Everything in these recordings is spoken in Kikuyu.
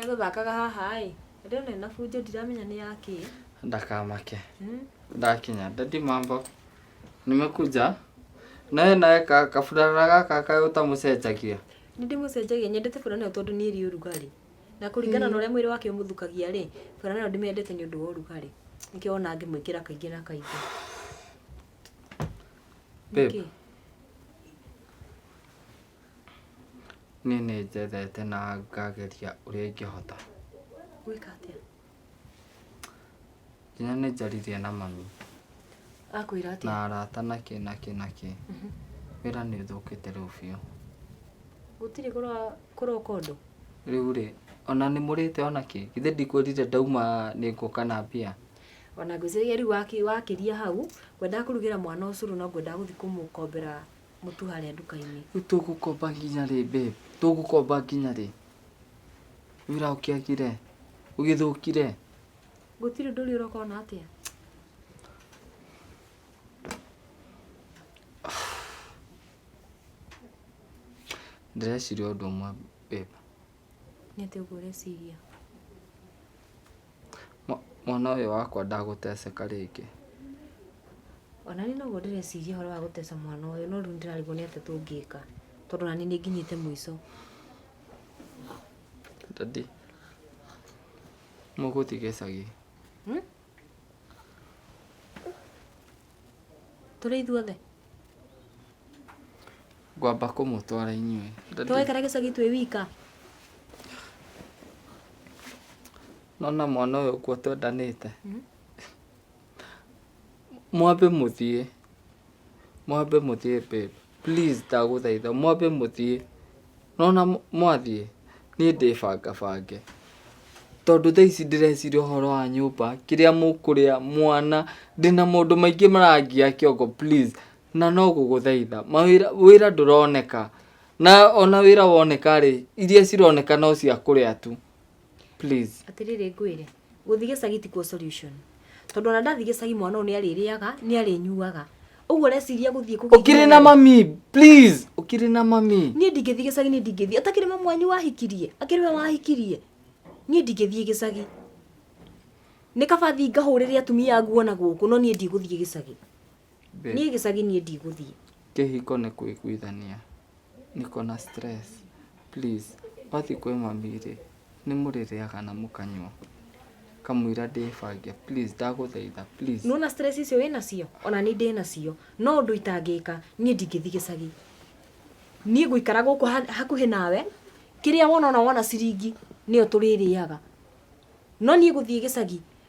Egũthakaga haha ĩ, ndĩrona ena bunjo ndiramenya nĩ ya kĩ. Ndakamake. Hmm? Ndakinya, daddy mambo. Nimekuja. Naye naye ka- kaburana gaka kaĩ ũtamũcenjagia. Nĩ ndĩmũcenjagia, nyendete burana ĩyo tondũ niĩ ĩrĩ ũrugarĩ. Na kũringana na ũrĩa mwĩrĩ wake ũmũthukagia rĩ, burana ĩyo ndĩmĩendete nĩ ũndũ wa ũrugarĩ. Nĩkĩo wona ngĩmwĩkĩra kaingĩ na kaingĩ. Babe. Nĩkĩ? Niĩ nĩ njethete na ngageria ũrĩa ingĩhota. Gwĩka atĩa? Nginya nĩ njaririe na mami. Akwĩra atĩa? Na arata na kĩ na kĩ na kĩ. Mhm. Wĩra nĩ ũthũkĩte rĩu biũ. Gũtirĩ kũroka ũndũ? Rĩu rĩ, ona nĩ mũrĩte ona kĩ? Githĩ ndikwĩrire ndauma nĩ ngũka na mbia? Ona ngwĩciria rĩu wakĩria hau, ngwendaga kũrugĩra mwana ũcũrũ no ngwendaga gũthiĩ kũmũkombera mũtu harĩa nduka-inĩ Rĩu tũgũkomba nginya rĩ babe? Tũgũkomba nginya rĩ? Wĩra ũkĩagire, ũgĩthũkire. gũtirĩ ũndũ ũrĩa ũroka ona atĩa Ndĩreciria ũndũ ũmwe babe. Nĩ atĩa ũguo ũreciria? Mwana ũyũ wakwa ndagũteceka rĩngĩ. Ona niĩ noguo ndĩreciria ũhoro wa gũteca mwana ũyũ no rĩu nĩndĩrarigwo nĩ atĩa tũngĩka tondũ ona niĩ nĩnginyĩte mũico. Daddy, mũgũthiĩ gĩcagi? tũrĩ ithuothe ngwamba kũmũtwara inyuĩ tũgaikara gĩcagi twĩ wika nona mwana ũyũ kuo twendanĩte mhm. mwambe mũthiĩ mwambe mũthiĩ babe Please ndagũthaitha mwambe mũthiĩ. Nĩwona mwathiĩ niĩ ndĩbanga bange. Tondũ thaa ici ndĩreciria ũhoro wa nyũmba, kĩrĩa mũkũrĩa, mwana, ndĩna maũndũ maingĩ marangia kĩongo please. Na no gũgũthaitha, mawĩra, wĩra ndũroneka. Na ona wĩra woneka rĩ, iria cironeka no cia kũrĩa tu. Please. Atĩrĩrĩ ngwĩre, gũthiĩ gĩcagi tikuo solution. Tondũ ona ndathiĩ gĩcagi mwana ũyũ nĩ arĩrĩaga, nĩ arĩnyuaga. Ũguo ũreciria gũthiĩ kũgĩa Ũkirĩ na mami, please. Ũkirĩ na mami. Niĩ ndingĩthiĩ gĩcagi, niĩ ndingĩthiĩ. Atakĩrĩ mamu wanyu wahikirie? Akĩrĩ we wahikirie? Niĩ ndingĩthiĩ gĩcagi. Nĩ kaba thiĩ ngahũrĩre atumia nguo na gũkũ, no niĩ ndigũthiĩ gĩcagi. Babe, niĩ gĩcagi niĩ ndigũthiĩ kĩhiko nĩ kũiguithania niko na stress please wathiĩ kwĩ mami rĩ nĩ mũrĩrĩaga na mũkanyua kamũira ndĩbange please ndagũthaitha please nĩwona stress icio wĩ nacio ona niĩ ndĩ nacio no ũndũ itangĩka niĩ ndingĩthiĩ gĩcagi niĩ ngũikara gũkũ ha- hakuhĩ nawe kĩrĩa wona ona wona ciringi nĩyo tũrĩrĩaga no niĩ gũthiĩ gĩcagi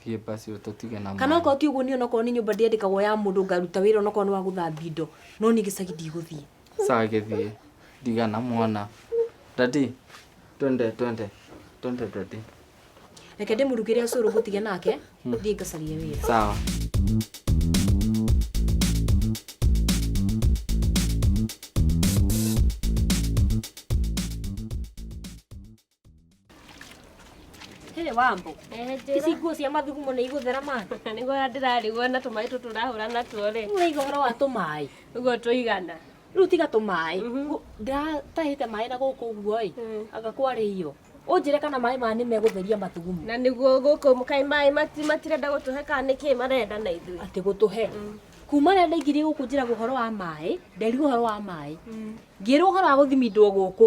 Thiĩ basi ũtũtige na kana okorwo ti ũguo niĩ onokorwo nĩ nyũmba ndĩandĩkagwo ya mũndũ ngaruta wĩra onokorwo nĩ wa gũthambia indo no niĩ gĩcagi ndigũthiĩ Sawa gĩthiĩ. Ndigana mwana. Daddy, twende twende. Twende daddy. reke ndĩmũrugĩre ũcũrũ ngũtige nake thiĩ ngacarie wĩra Sawa. Hĩrĩ wambo. Ici nguo cia mathugumo nĩ igũthera ma. Nĩguo ndĩrarigwo na tũmaĩ tũtũ ũrahũra natuo rĩ. Ũraiga ũhoro wa tũmaĩ. Ũguo tũigana. Rĩu tiga tũmaĩ. Mhm. Ndĩratahĩte maĩ na gũkũ ũguo ĩ. Mm. Anga kwarĩ iyo. Ũnjĩre kana maĩ maya nĩ megũtheria mathugumo. Na nĩguo gũkũ mũkai maĩ matirenda gũtũhe kana nĩkĩ marenda na ithuĩ. Atĩ gũtũhe. Mm. Kuma rĩrĩa ndaingĩrire gũkũ njĩragwo ũhoro wa maĩ, nderirwo ũhoro wa maĩ. Mm. Ngĩrwo ũhoro wa gũthimindwo gũkũ.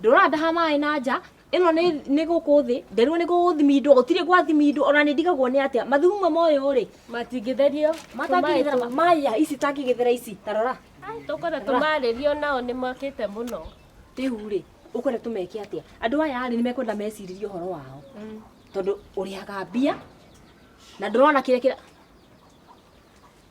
ndũrandaha maĩ na nja ĩno nĩ nĩ gũkũ thĩ nderirwo nĩ gũgũthimindwo gũtirĩ gwathimindwo ona nĩ ndigagwo nĩ atĩa mathugumo mamwe ũyũ rĩ matingĩtherio matangĩgĩthera ma- maĩ ya ici tangĩgĩthera ici tarora tũkwenda tũmarĩrio nao nĩ makĩte mũno rĩu rĩ ũkwenda tũmeke atĩa andũ aya rĩ nĩ mekwenda meciririe ũhoro wao tondũ ũrĩhaga mbia na ndũrona kĩrĩa kĩra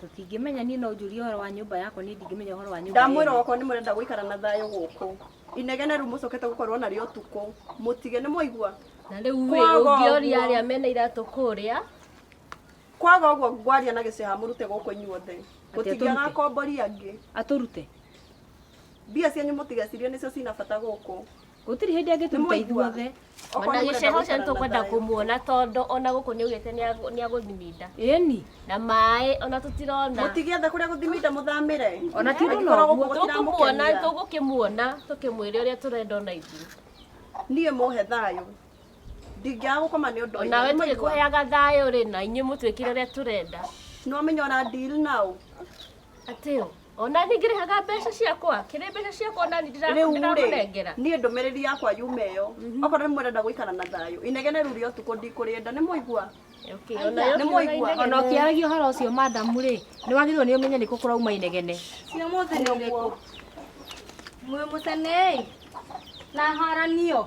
tũtingĩmenya niĩ no njũrie ũhoro wa nyũmba yakwa niĩ ndingĩmenya ũhoro wa nyũmba ndamwĩra yenu. okorwo nĩ mũrenda gũikara na thayũ gũkũ inegene rĩu mũcokete gũkorwo narĩo ũtukũ mũtige nĩ mwaigua na rĩu rĩ Kwaga ũngĩoria ũguo. arĩa mena iratũ kũrĩa kwaga ũguo ngwaria na gĩceha mũrute gũkũ inyuothe gũtingĩaga tũrute? akombori angĩ atũrute mbia cianyu mũtigecirie nĩcio cina bata gũkũ gũtirĩ hĩndĩ angĩtũruta ithuothe ona gĩcego ũcio nĩtũkwenda kũmuona tondũ ona gũkũ nĩaugĩte nĩagũthiminda ĩni na maĩ ona tũtirona mũtigĩetha kũrĩa gũthiminda mũthamĩre ona tirona ũguo tũkũmuona tũgũkĩmuona tũkĩmwĩre ũrĩa tũrenda ona ithuĩ niĩ mũhe thayũ ndingĩaga gũkoma nĩ ũndũ nawe tũgĩkũheaga thayũ rĩ na inyuĩ mũtwĩkĩre ũrĩa tũrenda nĩwamenya ona deal now atĩ Ona ni ngirihaga mbeca ciakwa, kiri mbeca ciakwa ona ni ndira- rĩu rĩ ndiramunengera. niĩ ndũmĩrĩri yakwa yume ĩyo okorwo nĩ mwendenda gũikara na thayũ inegene rĩu rĩa ũtukũ ndikũrĩenda nĩ mũigua Okay, ona yo Nĩ kiuga mũigua. inegene. ona ũkĩaragia ũhoro ũcio madamu rĩ nĩ wagĩrĩirwo nĩ ũmenye nĩkũ kũrauma inegene cia mũthĩ nĩ ũrĩkũ mwĩ mũcenei na haranio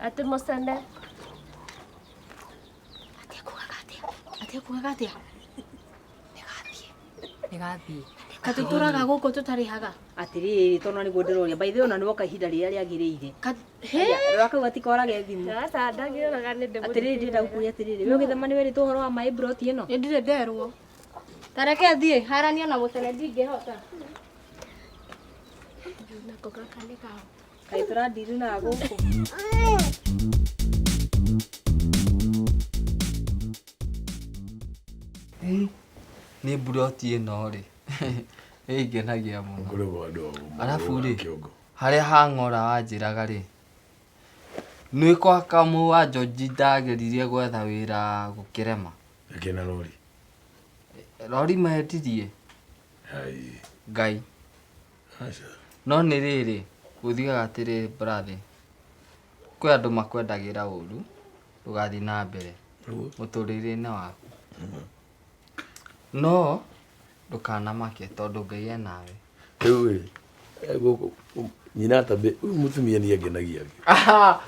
Atĩ mũcene. atekũgaga atĩa nĩgathiĩ katĩ tũraga gũkũ tũtarĩ haga atĩrĩrĩ tondũ nĩguo ndĩroria by the way ona nĩ woka ihinda rĩrĩa rĩagĩrĩire rora kau gatikorage thimũ atĩrĩrĩ ndĩrenda gũkũria atĩrĩrĩ we ũgĩthema nĩ wĩrĩtwo ũhoro wa maĩ mburoti ĩno nĩ ndirĩ nderwo tareke thiĩ harania na mũcene ndingĩhota nako gaka nĩ kao Kaĩ tũrandiru na gũkũ. nĩ mburoti ĩno rĩ ĩngenagia mũno Ngoragwo andũ a ũmwe Arabu wa rĩ, kĩongo. harĩa hang'ora wanjĩraga rĩ nĩ kwa kamũ wa njonji ndageririe gwetha wĩra gũkĩrema Akĩna rori. rori mehetirie Ai. ngai No nĩ rĩrĩ, gũthiaga atĩrĩrĩ brother, kwĩ andũ makwendagĩra ũru, ndũgathiĩ na mbere mũtũrĩre-inĩ waku. No ndũkanamake tondũ Ngai e nawe. Rĩu rĩ, gũkũ nyina atambĩ, ũyũ mũtumia niĩ angenagia.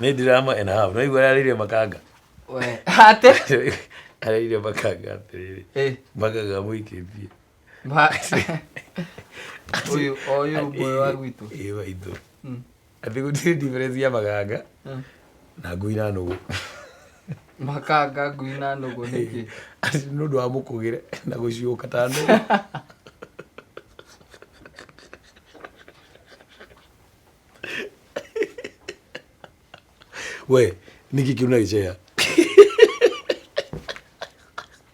Nĩ drama and a half. Nĩwaigua ũrĩa arĩire makanga? We, atĩ? Arĩire makanga atĩrĩrĩ, makanga amũikĩtie. Ba- Ũyũ- o ũyũ ũmwe wa gwitũ ĩĩ waitũ Mm. atĩ gũtirĩ difference ya maganga Mm. na ngui na nũgũ makanga ngui na nũgũ nĩkĩ Atĩ nĩ ũndũ wa mũkũgĩre na gũciũka ta nũgũ we nĩkĩ kĩu na gĩceya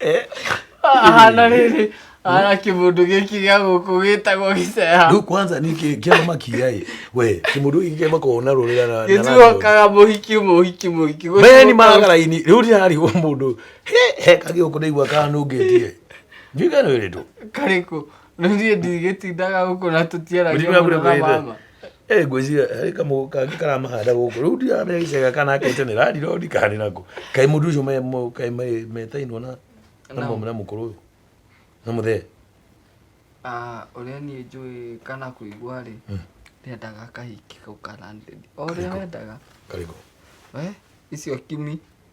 Eh, ahana rĩrĩ ahana kĩmũndũ gĩkĩ gĩa gũkũ gĩtagwo gĩceha rĩu kwanza nä kä ama makiaä we kä må ndå gä kä makoo na rå rä ra gĩtuokaga mũhiki mũhiki mũhiki meni maragaraini rä u ndirarä gå må ndå he kagä å kå ndaigua kanå ngä tie njui kanå ä rä two karĩkũ rĩu niĩ ndigĩtindaga gũkũ na tũtiaragia Ũrĩa mũno na wĩra. mama Eh, ngwĩciria harĩ kamũgũ kangĩ karamahanda gũkũ rĩu ndiramenya gĩcega kana akete nĩ rari rori kana nĩ nako kaĩ mũndũ ũcio me- mo- kaĩ me- metainwo na na mũ- na mũkũrũ ũyũ na mũthee Ah, ũrĩa niĩ njũĩ kana kũigua rĩ ndendaga kahiki kau karandedi o ũrĩa wendaga karĩkũ we icio kimi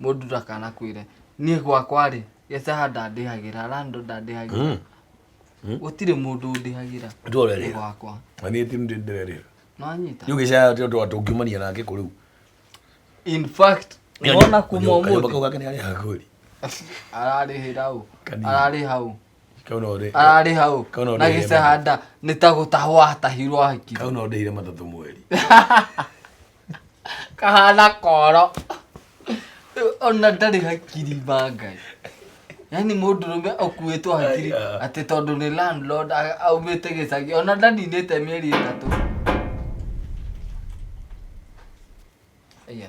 mũndũ ndakanakwĩre niĩ gwakwa-rĩ gĩcaha ndandĩhagĩra rando ndandĩhagĩra Hmm. gũtirĩ mũndũ ũndĩhagĩra Nĩ tũrerĩra. gwakwa Na niĩ ti nĩ ndĩrerĩra. nĩwanyita Rĩu gĩcaya tĩ ũndũ tũngiumania nake kũ rĩu. in fact Nĩ wona onye- kuma onye- kanyũmba kau ũmũthĩ gake nĩ arĩha kweli. ararĩhĩra ũ Kanini. ararĩha ũ Kau no ndĩ- ararĩha ũ Kau no na ndĩhĩre gĩcahanda nĩ ta gũtahwo atahirwo ahikire kau no ndĩhire matatũ mweri. kahana koro ona ndarĩ hakiri ma ngai yani mũndũ rũme ũkuĩtwo hakiri atĩ tondũ nĩ landlord a- aumĩte gĩcagi ona ndaninĩte mĩeri ĩtatũ Aya.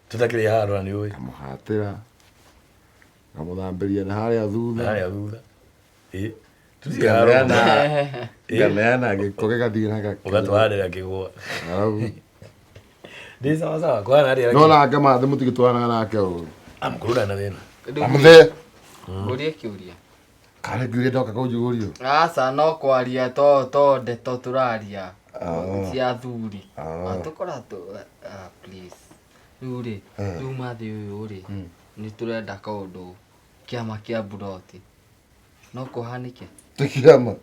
tũtakĩrĩ handũ na nĩ ũĩ ngamũhatĩra ngamũthambĩria na harĩa thutha harĩa thutha Ĩ, tũtirĩ handũ na- nganeana nganeana gĩko gĩgathiĩ na gakĩ ũgatwarĩra kĩgwa Arabu. ndĩ sawa sawa kwa narĩa no na ngamathĩ mũtigĩtwaranaga nake ũru amkũrũra na thĩna Rĩu amũthee Ũria kĩũria. Karĩ njuire ndoka kũnjugũrio. Aca no kwaria to to ndeto tũraria Oh. cia athuri. Oh. Atũkora tu ah, please. Rĩu rĩ, Eh. rĩu mathĩ ũyũ rĩ, Mm. nĩ tũrenda kaũndũ kĩama kĩa mburoti. No kũhanĩke? Tũkirama.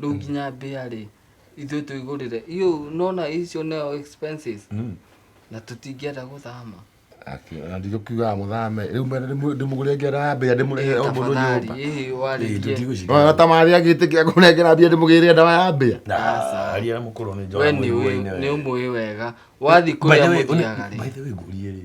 rĩu nginya mbĩa rĩ ithuĩ tũigũrĩre iũ nona icio neo expenses na tũtingĩenda gũthama nditũkiugaga mũthame rĩu ndĩmũgũre ngera ya mbĩa ndĩmũrehe o mũndũ nyũmba ĩĩ warĩtie ona ta marĩ agĩtĩkia kũnengera mbia ndĩmũgĩrĩre ndawa ya mbĩa Aca. aria na mũkũrũ nĩ we njora nĩ mũiguaine ũĩ- nĩ ũmũĩ wega wathiĩ kũrĩa mũthiaga rĩ ngũrie rĩ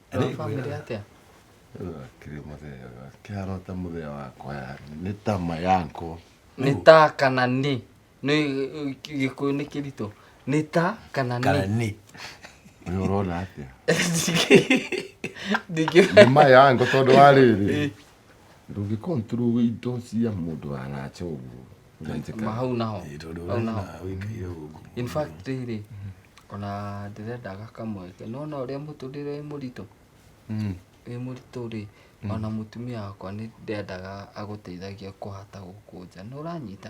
Arĩ Wa family kwĩra. atĩa? Kĩrĩ mũthea kĩhana ta mũthea wakwa yani nĩ ta ma yanko nĩ ta kana nĩ nĩ gĩkũyũ nĩ kĩritũ nĩ ta kana kana nĩ nĩ nĩ ũrona atĩa nĩ ndingĩ ma yanko tondũ wa rĩrĩ ndũngĩ control indo cia mũndũ wa nacha ũguo Ũnanjĩka? Ma hau naho Ĩĩ, tondũ Hau naho. ũrenda ũikaire gũkũ in fact rĩrĩ ona ndĩrenda gakamweke nona ũrĩa mũtũrĩre wĩ mũritũ Mm. wĩ mũritũ rĩ ona mũtumia wakwa nĩ ndendaga agũteithagia kũhata gũkũ nja nĩ ũranyita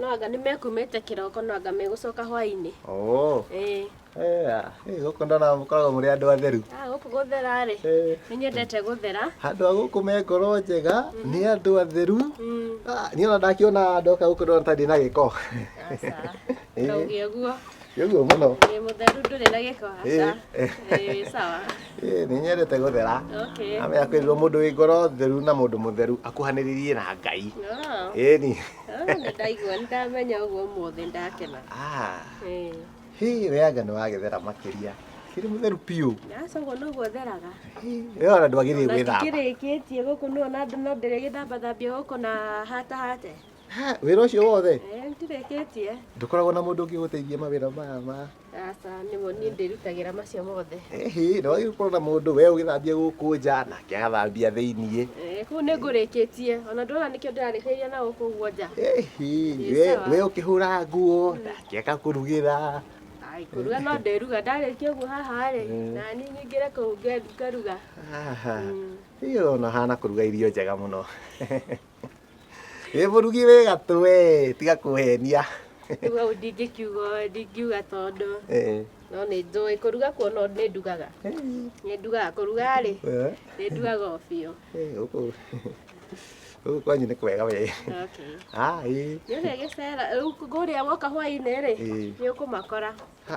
No anga nĩ mekumĩte kĩroko no anga megũcoka hwainĩ. Oo. Ĩĩ. Eh, ah, eh, gũkũ ndona mũkoragwo mũrĩ andũ atheru. Ah, gũkũ gũthera rĩ. Eh. Nĩ nyendete gũthera. Andũ a gũkũ me ngoro njega, nĩ andũ atheru. Mm. Ah, niĩ ona ndakiona ndoka gũkũ ndona ta ndĩ na gĩko. Aca. Ĩĩ. Ndauge ũguo. Nĩ ũguo mũno. Wĩ mũtheru ndũrĩ na gĩko aca. Ĩĩ. Ĩĩ, wĩ sawa. Ĩĩ, nĩ nyendete gũthera. Okay. Amenya kwĩrirwo mũndũ wĩ ngoro theru na mũndũ mũtheru akuhanĩrĩrie na Ngai. Ah. Ĩni. ndaigua ndamenya ũguo ũmũthĩ ndakena Ah, Eh, hii we anga nĩ wagethera makĩria kĩrĩ mũtheru biũ aca ũguo noguo theraga Hii, we ona ndwagĩrĩire na gwĩthamba ndikĩrĩkĩtie gũkũ no na no ndĩrĩgĩthambathambia gũkũ na hata hate Ha, wĩra ũcio wothe Eh, ndirĩkĩtie ndũkoragwo na mũndũ ũngĩgũteithia mawĩra maya ma Aca nĩmo niĩ ndĩrutagĩra macio mothe. Ĩhĩ, na wagĩrĩirwo gũkorwo na mũndũ we ũgĩthambia gũkũ nja nake agathambia thĩiniĩ. Eh, Kũu nĩ ngũrĩkĩtie. Ona ndona nĩkĩo ndĩrarĩkĩrĩria na gũkũ guo nja. Ĩhĩ, Ĩ, we sawa. we ũkĩhũra nguo nake agakũrugĩra. Ai, kũruga no ndĩruga. Ndarĩkia ũguo haha-rĩ, Mm. na niĩ nyingĩre kũu nge- ngaruga. Aha. Mm. Hihi ona ũhana kũruga irio njega mũno. wĩ mũrugi wĩ gatũ we tiga kũhenia rĩu hau ndingĩkiuga ndingiuga tondũ Eh, no nĩ njũĩ kũruga kuo no nĩ ndugaga nĩ ndugaga kũruga rĩ eh, nĩ ndugaga o biũ eh, gũkũ gũkũ kwanyu nĩ kwega we okay ai nĩ ũrĩa gĩcera rĩu kũrĩa woka hwaĩ-inĩ rĩ Eh. nĩ ũkũmakora Ha.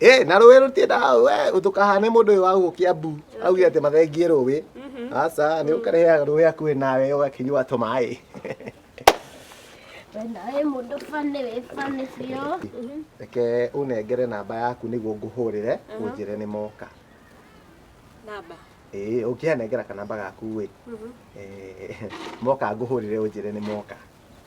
Eh, na rũĩ rũtiendaga we ndũkahane mũndũ ũyũ wa gũkũ kĩambu auge atĩ mathengie rũĩ aca nĩ ũkarehe rũĩ hakuhĩ nawe ũgakĩnyua tũmaĩ We nawe mũndũ bane wĩ bane biũ. reke ũnengere namba yaku nĩguo ngũhũrĩre ũnjĩre nĩ moka Namba. ĩĩ ũngĩanengera kanamba gaku ĩ eh, moka ngũhũrĩre ũnjĩre nĩ moka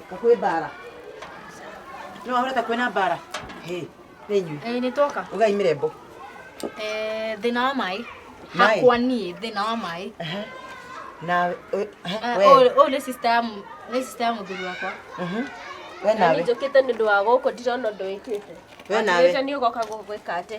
Ika kwĩ mbara. Nĩ wahũra ta kwĩna mbara. Hĩ, nĩ inyuĩ. Ĩĩ nĩ twoka. Ugai mĩrembo. Eh, thĩna wa maĩ. Maĩ? Hakwa niĩ thĩna wa maĩ. Aha. Na ũ- aha, Eh, we. ũyũ- Ũyũ nĩ sister ya mũ- nĩ sister ya mũthuri wakwa. Mhm. We Na nawe. nĩ njũkĩte nĩ ũndũ wa gũkũ ndirona ũndũ wĩkĩte. We nawe. Wĩte nĩ ũgoka gũgwĩka atĩ.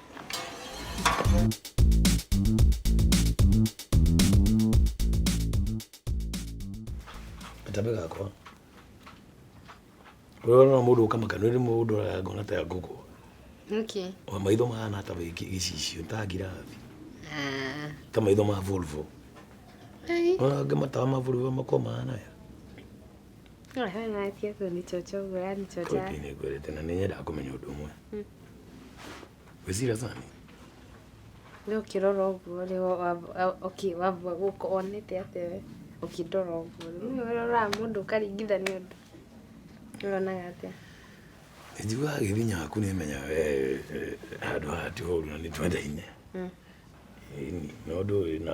Katambe gakwa. Wewe no mũndũ ũka makana nĩ mũndũ ũraya ngona ta ya ngũkũ. Nĩkĩ? Wa maitho mahana ta wĩki gĩcicio ta ngirathi. Ah, Ta maitho ma Volvo. ai. Ona angĩ matawa ma Volvo makoma mahana ya. Kodi nĩngwĩrĩte na nĩnyendaga kũmenya ũndũ ũmwe wĩcira sani ũkĩrora ũguo rĩ wamba gũka wonete atĩa we ũkĩndora ũguo rĩ nĩ ũroraga mũndũ ũkaringithania ũndũ nĩ ũronaga atĩa njiguaga gĩthinya waku nĩmenyaga we handũ haha ti horu na nĩ twendaine Ĩni, no ndũĩ na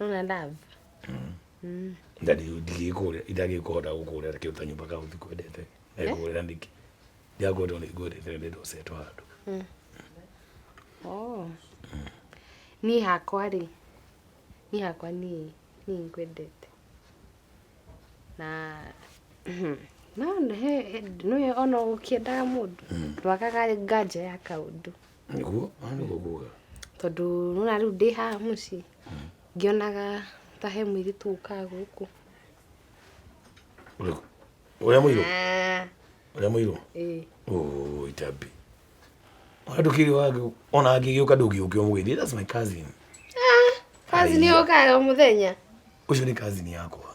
Ona love. Mm. ndari ndigikure ndagikuhota gukurira kiu kanyumba kau thikwendete ekurira ndiki ndiakwenda ndikwendete ndi ndosetwa handu Oh. Ni hakwa ri. Ni hakwa ni ni nkwendete. Na no he no yo ono ukiendaga mundu. Twakaga nganja ya kaundu. nĩguo ah, nĩguo nguga tondũ nona rĩu ndĩ haha mũciĩ ngĩonaga ta he mũirĩtu ũkaga gũkũ Ũrĩkũ? ũrĩa mũirũ Ah, ũrĩa mũirũ ĩĩ. Oh, itambi andå kä rä ona angä gä å ka ndå ngä å kä omå that's my cousin kazi nĩ ũkaga o mũthenya å cio nä cousin yakwa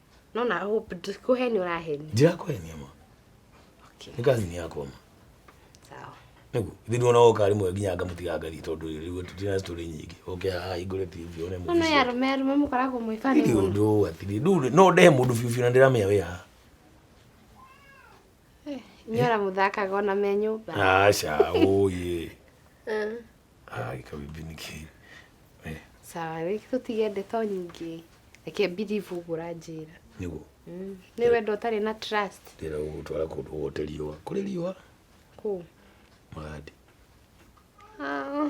No na hope ndikuheni uraheni. Ndirakuhenia ma. Okay. Nĩ kazi ni yakwa ma. Sawa. Nĩguo, ithe nĩ wona oka rĩmwe nginya ngamũtiga ngari tondũ rĩu tũtirĩ na story nyingĩ. Oke haha hingũre TV one movie. No ya arũme arũme mũkoragwo mwĩ fan. Nĩ ũndũ atiri. Rĩu no ndehe mũndũ biũ biũ na ndĩramenya wĩ haha. Eh, nyora mũthakaga ona me nyũmba. Aca, ũyĩ. Eh. Ah, ikabimbi nĩ kĩĩ? Eh, sawa rĩu tũtige ndeto nyingĩ reke birivu ũguo ũranjĩra nĩguo Mm, nĩ wendo ũtarĩ na trust ndĩra gũgũtwara kũndũ gwote riũa kũrĩ riũa kũ magandi Ah,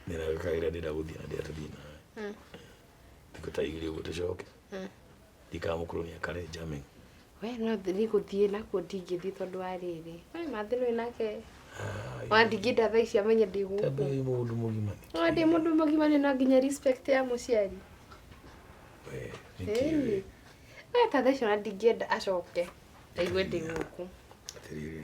ndĩragĩkaĩra ndĩragũthiĩ na ndĩratũthiĩ nawe thikũ ta igĩrĩ ũguo tũcoke ndikamũkurunia kare njame we no thiĩ gũthiĩ nakuo ndingĩthiĩ tondũ wa rĩrĩ we mathĩ nĩ nake wandingĩnda thaa ici amenye ndĩ gũkũ tondũ wĩ mũndũ mũgima no ndĩ mũndũ mũgima nĩ no nginya respect ya mũciari we Vicky Ĩni. we we ta thaa ici ona ndingĩenda acoke aigue ndĩ gũkũ atĩrĩrĩ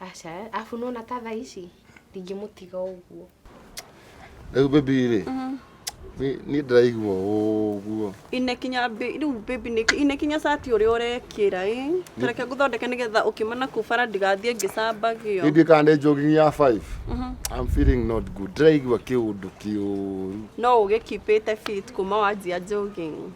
aca abu nona ta thaa ici ndingĩmũtiga ũguo rĩu baby rĩ mm. niĩ ndĩraigua ũguo inekinya rĩu baby nĩkĩ inekinya cati ũrĩa ũrekĩra ĩ tareke ngũthondeke nĩgetha ũkĩmana kũ bara ndigathiĩ ngĩcambagio baby kana nĩ jogging ya 5 mhm. I'm feeling not good ndĩraigua kĩũndũ kĩũru no ũgĩkipĩte fit kuma wanjia jogging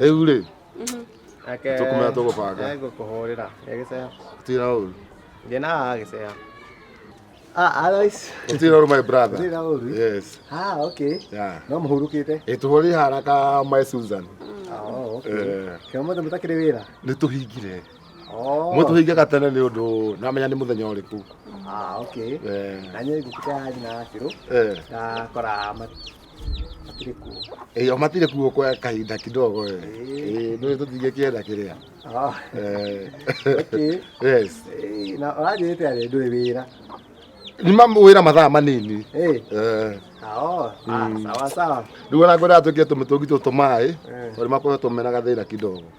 rĩu rĩ tũkũmenya tũgũbanga ngũkũhũrĩra gĩceha tira ũru ndĩ na haha gĩceha tira ũru my brother yes no mũhurũkĩte ĩtũhũrĩ haraka my susan kĩo mothe mũtakĩrĩ wĩra nĩ tũhingire Oh. Mwe tũhingaga tene nĩ ũndũ namenya nĩ mũthenya ũrĩkũ. Ah, okay. Eh. Na nyie ngũkĩta yathi na akĩrũ. Eh. Na kora matirĩ kuo. Eh, matirĩ kuo kwa kahinda kidogo eh. Eh, nĩ tũtingĩkĩenda kĩrĩa. Ah. Eh. Okay. Yes. Eh, na ũranjĩte arĩ ndũrĩ wĩra. Ni mamu wĩra mathaa manini. Eh. Eh. Oh, ah, mm. sawa sawa. Ndio na ngwenda tukie tumtungi tu tumai. Eh. Tuli makoe tumena gathira kidogo.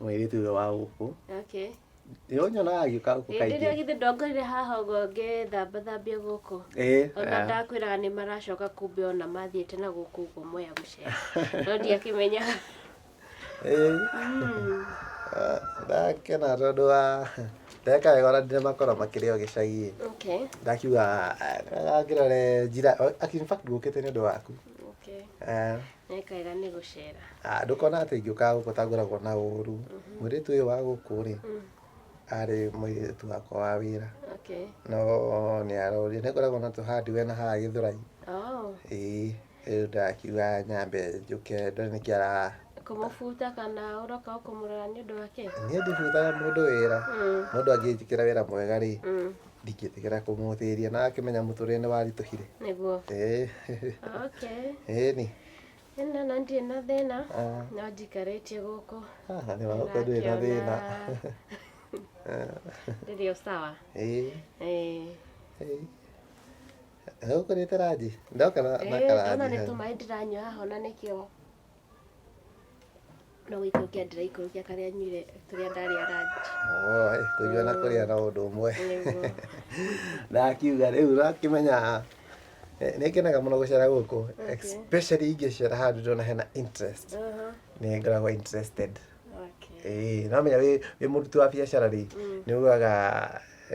mũirĩtu ũyũ wa gũkũ okay nĩ ũnyonaga agĩũka gũkũ hĩndĩ kaingĩ ĩrĩa githĩ ndongorire haha ũguo ngĩthamba thambia gũkũ Ĩĩ, ona ah. ndakwĩraga nĩ maracoka kumbe ona mathiĩte na gũkũ ũguo moya gũcera no ndiakĩmenyaga Ĩĩ. Ah, ndakena tondũ wa ndeka wega ona ndire makorwo makĩrĩ o gĩcagi okay ndakiuga ngĩrore njira in fact ngũkĩte nĩ ũndũ waku okay Ah, Nĩ kega nĩ gũcera. Ah, ndũkona atĩ ingĩũkaga gũkũ tangoragwo na ũũru mũirĩtu ũyũ wa gũkũ rĩ arĩ mũirĩtu wakwa wa wĩra Okay. no nĩ aroria nĩ ngoragwo na tũhandi we na haha gĩthũrai Oh, ĩĩ rĩu ndakiuga nyambe njũke ndore nĩkĩ ara kũmũbuta kana ũroka kũmũrora nĩ ũndũ wake? niĩ ndibutaga mũndũ wĩra Mm. mũndũ angĩnjĩkĩra wĩra mwega rĩ Mm. ndingĩtigĩra kũmũthĩria na akĩmenya mũtũrĩre nĩ waritũhire nĩguo Eh, okay eh, ni ĩna na ndirĩ na thĩna Ah. no njikarĩtie gũkũ haha nĩ wagũkũ ndũrĩ na thĩna rĩrĩ o sawa Eh, Eh, eh. Gũkũ nĩ taraji ndoka na na eh, ona nĩ karaji tũmaĩ ndĩranyua haha ona nĩkĩo no gũikũrũkia ndĩraikũrũkia karĩa nyuire tũrĩa ndarĩa ranji Oi, kũnyua na kũrĩa na ũndũ ũmwe Nĩguo. ndakiuga rĩu ũrakĩmenya eh, nĩngenaga mũno gũcera gũkũ especially ingĩcera handũ ndĩrona hena interest Aha, nĩ ngoragwo interested okay. Eh, no menya wĩ wĩ mũruti wa biacara rĩ nĩ ugaga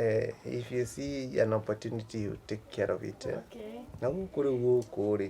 eh, if you see an opportunity you take care of it eh. Okay. na gũkũ rĩu gũkũ rĩ